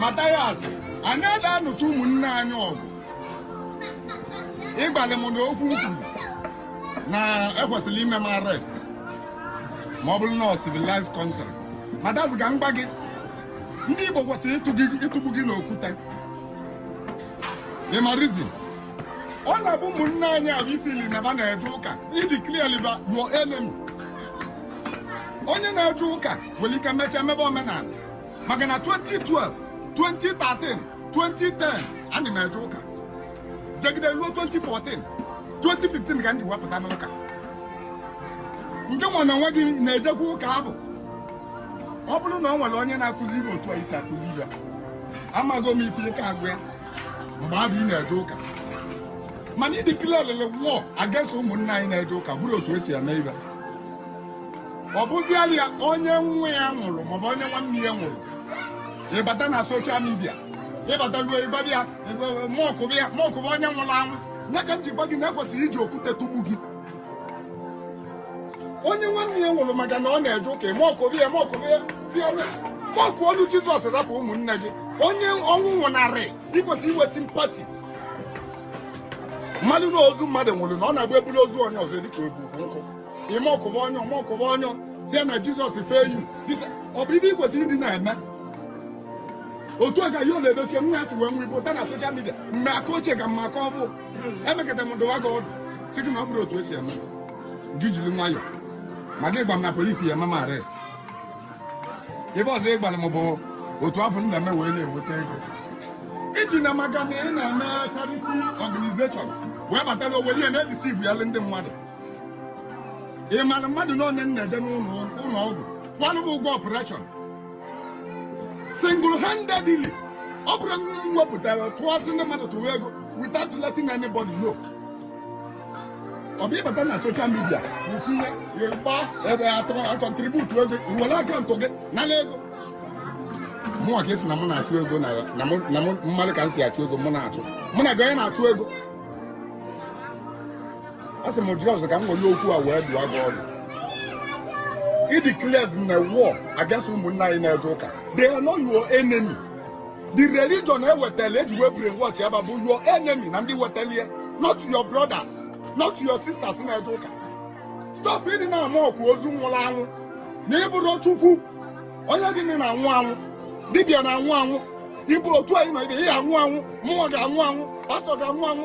Mathias anyị ada anụsị ụmụnne anyị ọgụ ị gwalị m na okwu m kwuru na e kwesịrị ime m arrest ma ọ bụrụ na ọ civilized country Mathias ka m gwa gị ndị Igbo kwesịrị ịtụgbu gị n'okwute ị ma reason ọ na-abụ ụmụnne anyị ahụ i feel na ba na-eje ụka i declarelị ba your enemy onye na-eje ụka nwere ike mechaa mebe omenala maka na 2012 2013 2010 ana m eje ụka jegide ruo 2014 2015 ka m ji wee pụta n'ụka ngịnwa na onwe gị na-ejekwa ụka ahụ ọ bụrụ na o nwere onye na-akụzi ibe otu a i si akụzi ya amago m ife ị ka-agwa ya mgbe abụ ị na-eje ụka mana ị declare holy war against ụmụnna anyị na-eje ụka abụrọ otu e si eme ibe ọ bụziala ya onye nwa ya nwụrụ maọbụ onye nwanne ya nwụrụ ịbata na social media ịbata ruo ịgbabi ya mọkụba ya mọkụba onye nwụrụ anwụ ya ka m ji gwa gị na e kwesịrị iji okwute tụgbuo gị onye nwanne ya nwụrụ maka na ọ na-eje ụka mọkụba ya mọkụba ya mọkụọnụ Jizọs rapụ ụmụnne gị onye ọnwụ nwụnarị i kwesịrị inwe sympathy mara na ozu mmadụ nwụrụ na ọ na-abụ e buru ozu onye ọzọ dịka e bu nkụ ị mọkụba onye ahụ mọkụba onye ahụ tie na Jizọs fail you ọ bụ ibe ị kwesịrị ịdị na-eme otu a ka Yul Edochie nwa ya si wee nwụọ ị pụta na social media mgbe aka ochie ka mma aka ọbụ emekata m dụwa gị ọdụ sị gị na ọ bụrọ otu e si eme gị jiri nwayọ ma gị gwa m na police ya-eme m arrest ibe ọzọ ị gwara m bụ otu ahụ m na-eme wee na-enweta ego iji na maka na ị na-eme charity organization wee batara were ya na-edeceive ndị mmadụ ị mara mmadụ one m na-eje n'ụlọ ọgwụ kwalụ ba ụgwọ operation single handedly ọ bụrọ na m wepụtara tụọsị ndị mmadụ tụwa ego without letting anybody know ọ bụ ịbata na social media utinye gba ebe atọ acontribute ego i were account gị nala ego mụnwa ka ị sị na mụ na-achụ ego na mmadụ ka m si achụ ego mụ na-achụ mụ na gị onye na-achụ ego a sị m just ka m were okwu a wee dụọ gị ọdụ ị declarezina war against ụmụnna anyị na-eje ụka they are not your enemy the religion e wetala e ji wee brainwash ba bụ your enemy na ndị wetala ya not your brothers not your sisters na-eje ụka stop ịdị na-amọkụ ozu nwụrụ anwụ na ị bụrọ Chukwu onye dị na-anwụ anwụ dibịa na-anwụ anwụ ịbụ otu anyị nọ ibe ya anwụ anwụ mụwa ga-anwụ anwụ pastor ga-anwụ anwụ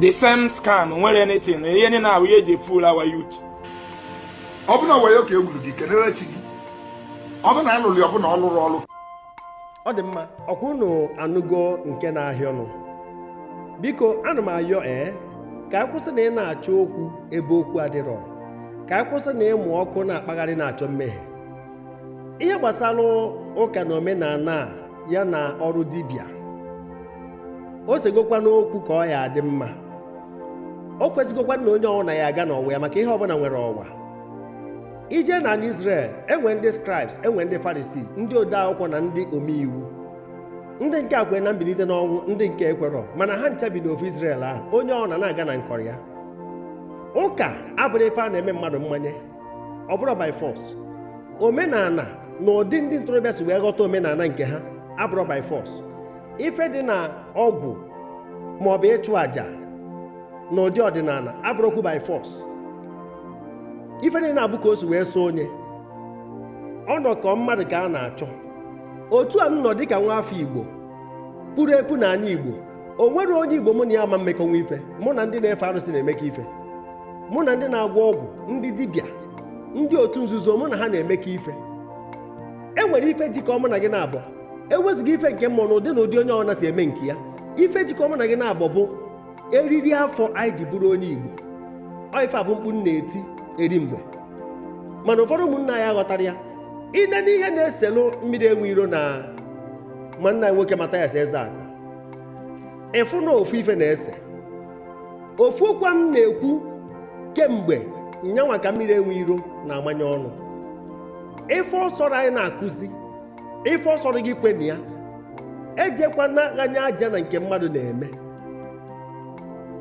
the same scam nwere anything ihe ndị na-awụ ihe e ji fool our youth ọ bụ na wayo ka e gwuru gị kenere chi gị ọ bụ na a lụlụ ọ bụ na ọ lụrụ ọlụ ọ dị mma ọkwa unu anụgo nke na-ahịọ nụ biko ana m ayọ ee ka a kwụsị na ị na-achọ okwu ebe okwu adịrọ ka a kwụsị na ịmụ ọkụ na-akpagharị na-achọ mmehie ihe gbasara ụka na omenala ya na ọrụ dibịa o segokwa n'okwu ka ọ ya adị mma o kwesịgokwa na onye ọwụna ya aga n'ọwa ya maka ihe ọbụla nwere ọwa i je na Israel e nwee ndị scribes e nwee ndị Farisii ndị ode akwụkwọ na ndị ome iwu ndị nke a kwere na mbilite n'ọnwụ ndị nke ekwerọ mana ha ncha bi n'ofu Israel ahụ onye ọwụna na-aga na nkọrọ ya ụka abụrọ ife a na-eme mmadụ mmanye ọ bụrọ by force omenala na ụdị ndị ntorobịa si wee ghọta omenala nke ha abụrọ by force ife dị na ọgwụ ma ọ bụ ịchụ àjà na ụdị ọdịnala abụrọkwu by force ife dị na-abụ ka o si wee sọ onye ọnọkọ mmadụ ka a na-achọ otu a m nọ dịka nwa afọ igbo puru epu na anị igbo o nwere onye igbo mụ na ya ama emekọnwu ife mụ na ndị na-efe arụsị na-emekọ ife mụ na ndị na-agwọ ọgwụ ndị dibịa ndị otu nzuzo mụ na ha na-emekọ ife e nwere ife jikọ mụ na gị naabọ ewezụga ife nke mmụọ na ụdị na ụdị onye ọwụna si eme nke ya ife jikọ mụ na gị naabọ bụ eriri afọ anyị ji bụrụ onye igbo ọ ife a bụ mkpu m na-eti eri mgbe mana ụfọdụ ụmụnna anyị aghọtarọ ya i nee n'ihe na-eselụ mmiri enwe iro na nwanne anyị nwoke Mathias Ezeaku ị fụ na ofu ife na-ese ofu okwu m na-ekwu kemgbe nyanwa ka mmiri enwe iro na-amanye ọnụ ife ọ sọrọ anyị na-akụzi ife ọ sọrọ gị kwe na ya ejekwana ghanye aja na nke mmadụ na-eme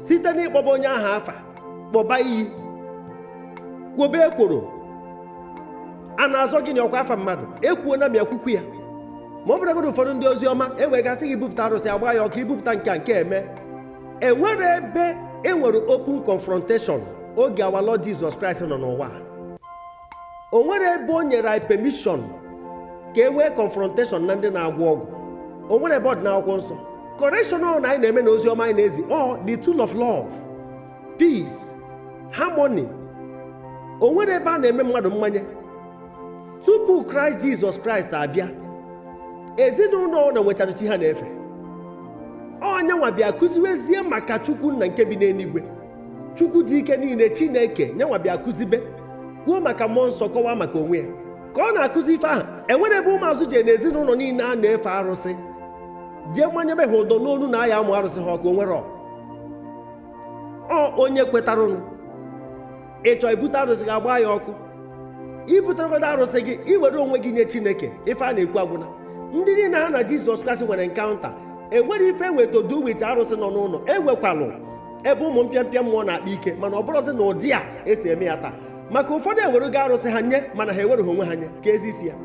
site n'ịkpọba onye ahụ afa kpọba iyi kwobe ekworo a na-azọ gị na ọkwa afa mmadụ ekwuo na m ya kwukwu ya ma ọ bụrụgodị ụfọdụ ndị ozi ọma e wee ga sị gị bupụta arụsị agbaa ya ọkụ i bupụta nke a nke eme e nwere ebe e nwere open confrontation oge our Lord Jizọs Kraịst nọ n'ụwa a. o nwere ebe o nyere anyị permission ka e nwee confrontation na ndị na-agwọ ọgwụ o nwere ebe ọ dị n'akwụkwọ nsọ correction ọwụna anyị na-eme na ozi ọma anyị na-ezi ọ the tool of love peace harmony o nwere ebe a na-eme mmadụ mmanye tupu kraịst jizọs kraịst abịa ezinụlọ ọwụna nwechara chi ha na-efe ọ nyanwa bịa kụziwezie maka chukwu nna nke bi n'eluigwe chukwu dị ike niile chineke nyanwa bịa kụzibe kwuo maka mmụọ nsọ kọwaa maka onwe ya ka ọ na-akụzi ife ahụ enwerọ ebe ụmụazụ jee na ezinụlọ niile a na-efe arụsị jee manyebe ha ụdọ n'onu na a ya-amụ arụsị ha ọkụ o nwerọ ọ ọ onye kwetarụnụ ị chọọ ibute arụsị gị agbaa ya ọkụ ibuteregodo arụsị gị i were onwe gị nye chineke ife a na-ekwu agwụna ndị niile ha na jizọs kraịst nwere encounter enwere ife nwe to do with arụsị nọ n'ụlọ enwekwalụ ebe ụmụ mpịampịa mmụọ na-akpa ike mana ọ bụrọzi n'ụdị a esi eme ya taa maka ụfọdụ ewerugo arụsị ha nye mana ha ewereghị onwe ha nye ka ezi isi ya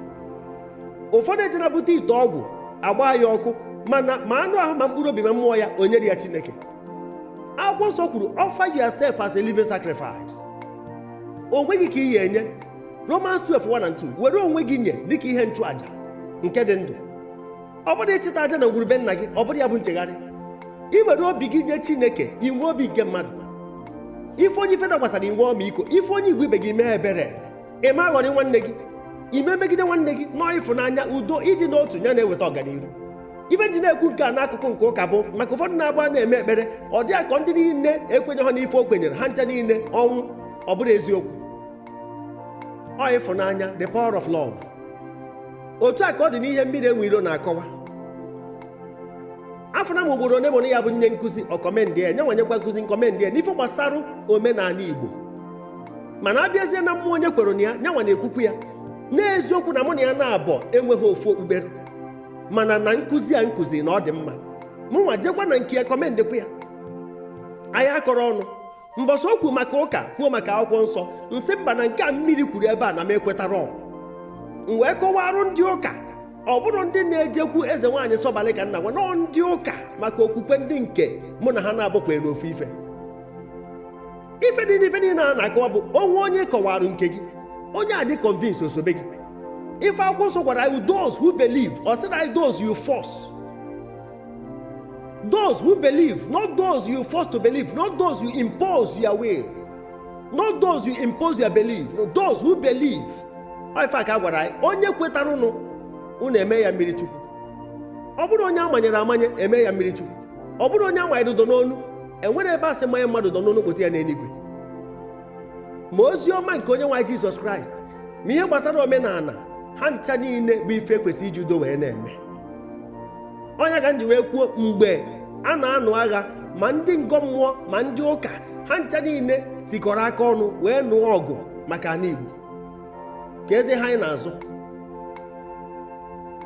ụfọdụ eji na-ebute ite ọgwụ agbaa ya ọkụ mana ma anụ ahụ ma mkpụrụ obi ma mmụọ ya o nyerọ ya chineke akwụkwọ nsọ kwuru offer yourself as a living sacrifice onwe gị ka ị ya-enye Romans 12 1 and 2 were onwe gị nye dịka ihe nchụaja nke dị ndụ ọ bụrọ ịchịta aja na ngwuru be nna gị ọ bụrọ ya bụ nchegharị i were obi gị nye chineke inwe obi nke mmadụ ị fụ onye ife dakwasara i nwee ọmịiko ị fụ onye igbo ibe gị mee ebere ị ma aghọrị nwanne gị ị ma emegide nwanne gị na ọ ịfụnanya udo ịdị n'otu ya na-eweta ọganihu ife m ji na-ekwu nke a n'akụkụ nke ụka bụ maka ụfọdụ na-abụ a na-eme ekpere ọ dị ha ka ndị niile ekwenyehọ n'ife o kwenyere ha ncha niile ọnwụ ọ bụrọ eziokwu ọ ịfụnanya the power of love otu a ka ọ dị n'ihe mmiri enwe ilo na-akọwa afụna m ugboro one mụ na ya bụ nnye nkụzi ọ kọmendị ya nyanwa nyekwa nkụzi nkọmendị ya n'ife gbasara omenala igbo mana abịazie na mmụọ onye kwere na ya nyanwa na-ekwukwu ya n'eziokwu na mụ na ya na-abọ enweghị ofu okpukpere mana na nkụzi a nkụzi na ọ dị mma mụnwa jekwa na nke ya kọmendịkwa ya anyị akọrọ ọnụ mbọsị o kwu maka ụka kwuo maka akwụkwọ nsọ nsị mba na nke a mmiri kwuru ebe a na m ekwetara ọ m wee kọwarụ ndị ụka ọ bụrọ ndị na-ejekwu eze nwaanyị sọbalị ka m na-agwa na ọ ndị ụka maka okwukwe ndị nke mụ na ha na-abọ kwere n'ofu ife ife dị n'ife niile a na-akọwa bụ o nwee onye ị kọwarụ nke gị onye a dị convince o sobe gị ife akwụkwọ nsọ gwara anyị those who believe ọ sịrọ anyị those you force Those who believe, not those you force to believe, not those you impose your will, not those you impose your belief, no, those who believe. Ọ ife a ka a gwara anyị onye kwetaranụ ụnụ eme ya mmiri chukwu ọ bụrọ onye amanyere amanye eme ya mmiri chukwu ọ bụrọ onye amanyere ụdọ n'onu enwerọ ebe a sị manye mmadụ ụdọ n'onu kpụta ya n'eluigwe ma ozi ọma nke onyenwe anyị jizọs kraịst ma ihe gbasara omenala ha ncha niile bụ ife ekwesị iji udo wee na-eme ọ nya ka m ji wee kwuo mgbe a na-anụ agha ma ndị ngọ mmụọ ma ndị ụka ha ncha niile tikọrọ aka ọnụ wee nụọ ọgụ maka ana Igbo ka eze ha anyị na-azụ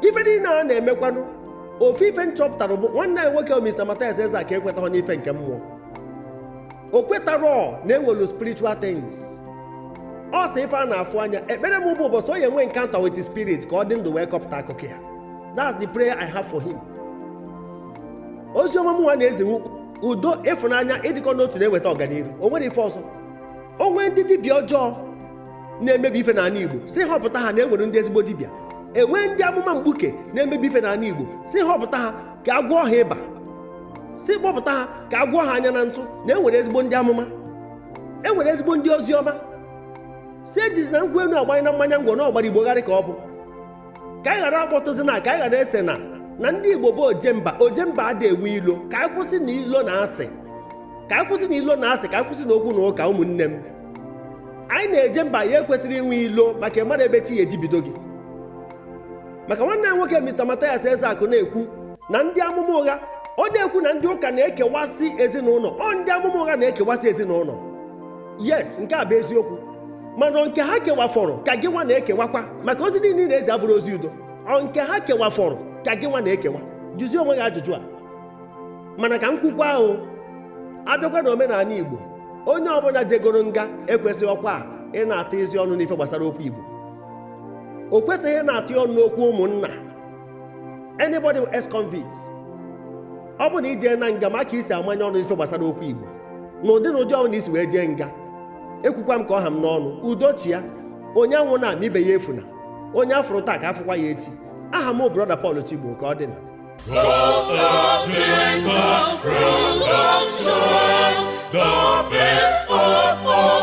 ife niile a na-emekwanụ ofu ife m chọpụtara bụ nwanne anyị nwoke Mr. Mathias Ezeaku ekwetaghọ n'ife nke mmụọ o kwetarọ na enwelu spiritual things ọ sị ife a na-afụ anya ekpere m bụ ụbọchị ọ ya-enwe encounter with spirit ka ọ dị ndụ wee kọpụta akụkọ ya that's the prayer i have for him ozi ọma mụnwa na-ezi wụ udo ịfụnanya ịdịkọ n'otu na-eweta ọganiru o nwere ife ọzọ o nwee ndị dibịa ọjọọ na-emebi ife n'ana igbo sị họpụta ha na enwere ndị ezigbo dibịa enwee ndị amụma mgbuke na-emebi ife n'ana igbo sị họpụta ha ka a gwọọ ha ịba sị kpọpụta ha ka a gwọọ ha anya na ntụ na enwere ezigbo ndị amụma enwere ezigbo ndị ozi ọma sị ejizina nkwụ enu agbanye na mmanya ngwọ na ọgbara igbo gharị ka ọ bụ ka anyị ghara akpọtụzina ka anyị ghara esena na ndị igbo bụ ojemba ojemba adị enwe ilo ka anyị kwụsị na ilo na asị ka anyị kwụsị na ilo na asị ka anyị kwụsị na okwu na ụka ụmụnne m anyị na-eje mba anyị ekwesịrọ inwe ilo maka ị marọ ebe chi ya-ejibido gị maka nwanne anyị nwoke Mr. Mathias Ezeaku na-ekwu na ndị amụma ụgha ọ na-ekwu na ndị ụka na-ekewasị ezinụnọ ọ ndị amụma ụgha na-ekewasị ezinụnọ yes nke a bụ eziokwu mana ọ nke ha kewafọrọ ka gị nwa na-ekewakwa maka ozi niile ị na-ezi abụrọ ozi udo ọ nke ha kewafọrọ ka gị nwa na-ekewa jụzie onwe gị ajụjụ a mana ka m kwukwa ahụ abịakwa na omenana igbo onye ọbụna jegoro nga ekwesịghọkwa ịna-atụzi ọnụ n'ife gbasara okwu igbo o kwesịghị ịna-atụ ya ọnụ n'okwu ụmụnna anybody who ex convict ọ bụ na i jeena nga ma aka i si amanye ọnụ n'ife gbasara okwu igbo n'ụdị n'ụdị ọbụna i si wee jee nga ekwukwa m ka ọ ha m n'ọnụ udo chịa onye anwụna ma ibe ya efuna onye afụrụ taa ka afụkwa ya echi aha m bụ brother Paul Chigbo ka ọ dị na The best of all.